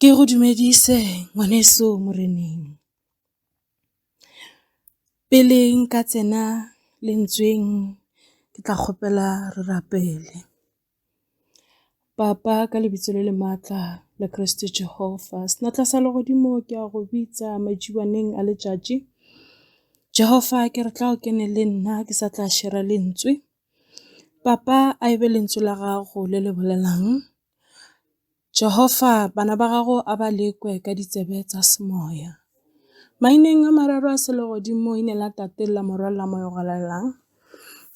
Ke go dumedise ngwaneso moreneng. Pele nka tsena lentsweng ke tla kgopela re rapele. Papa ka lebitso le le maatla la Kreste Jehova, senatla sa legodimo ke a go bitsa majibaneng a letšatši. Jehova ke re tla o kene le nna ke sa tla šera lentswe, papa a e be lentswe la gago le le bolelang. Jehofa bana ba gago a ba lekwe ka ditsebe tsa semoya. Maineng a mararo a selegodimo ine la tate la morwa la moya galelang.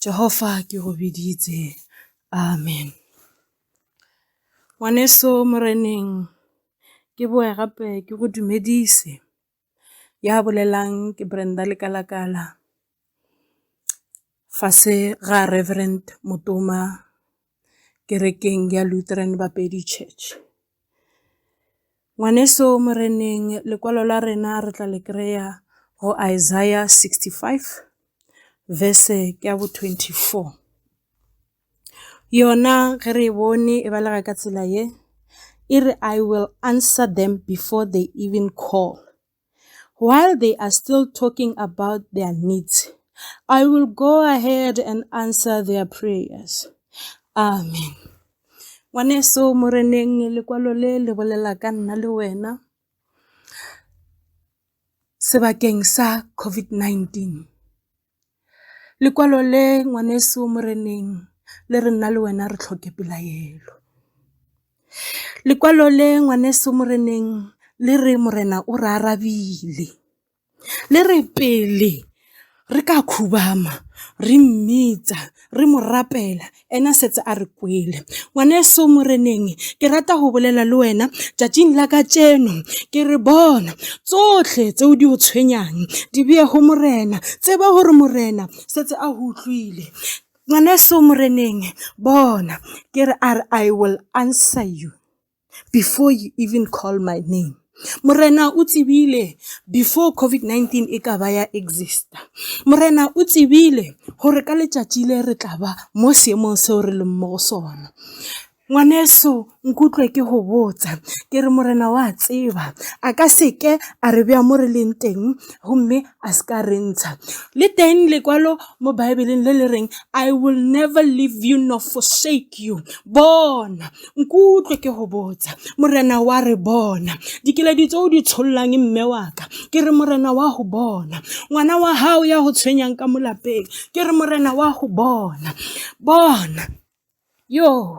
Jehofa ke go biditse. Amen. Ngwaneso moreneng ke boe gape ke go dumedise. Ya bolelang ke Brenda Lekalakala fase ga Reverend Motoma kerekeng ya Lutheran Bapedi Church. Ngwaneso moreneng lekwalo la rena re tla le kry-a go Isaiah 65 verse ke ya bo 24. Yona ge re e bone e balega ka tsela ye, e re I will answer them before they even call. While they are still talking about their needs, I will go ahead and answer their prayers. Amen. Ngwaneso Moreneng lekwalo le le bolela ka nna le wena sebakeng sa COVID-19. Lekwalo le ngwaneso moreneng le re nna le wena re tlhoke pelaelo. Lekwalo le ngwaneso moreneng le re morena o re arabile. Le re pele re ka khubama re mmitsa re mo rapela Ena setse a re kwele. Ngwaneso Moreneng, ke rata go bolela le wena tšatšing la ka tšeno. Ke re bona, tsohle tseo di o tshwenyang di beye go Morena. Tseba gore Morena setse a go utlwile. Ngwaneso Moreneng, bona, ke re a re, I will answer you. before you even call my name morena o tsebile before covid-19 e ka ba ya exista morena o tsebile gore ka letšatši le re tla ba mo seemong seo re leng mo go sona ngwaneso nkutlwe ke go botsa ke re morena wa tseba a ka seke a re bja mo re leng teng gomme a se ka re ntsha le teng lekwalo mo baebeleng le le reng i will never leave you nor forsake you bona nkutlwe ke go botsa morena wa re bona dikeledi tse o di tshollang mme waka ke re morena wa go bona ngwana wa gago ya go tshwenyang ka molapeng ke re morena wa go bona bona yoo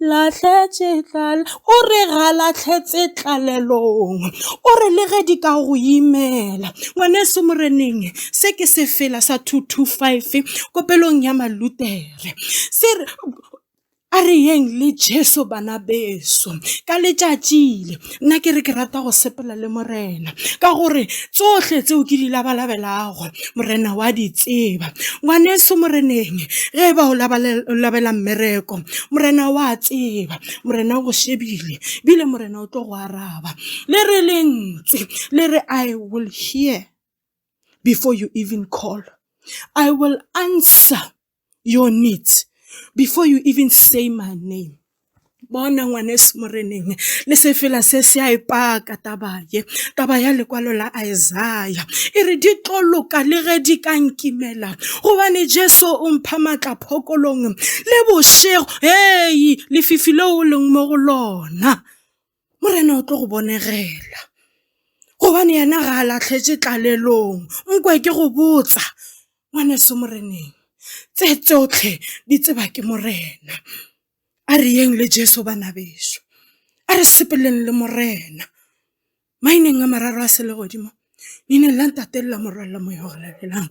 Lahletše tlal O re ga lahletse tlalelong O re le ge di ka go imela Ngwaneso moreneng Se ke sefela sa 225 Kopelong ya malutere Se re a re yeng le Jesu bana beso ka letšatšile nna ke re ke rata go sepela le morena ka gore tsohle tseo ke di labalabelago morena wa di tseba ngwaneso moreneng ge ba o labela mmereko morena wa tseba morena o go shebile bile morena o tlo go araba le re lentswe le re i will hear before you even call i will answer your needs before you even say my name bona ngwaneso moreneng le sefela se se a epaka taba ye taba ya lekwalo la isaya e re di tlo loka le ge di ka nkimela gobane jesu o mpha matla phokolong le bošego hei lefifi leo o leng mo go lona Morena o tlo go bonegela gobane yena ga a latlhetse tlalelong nkwe ke go botsa ngwaneso moreneng tse tsotlhe di tseba ke morena a re yeng le jesu bana beso a re sepeleng le morena maineng a mararo a sele godimo leineng la ntate le la morwalela moya o go latelang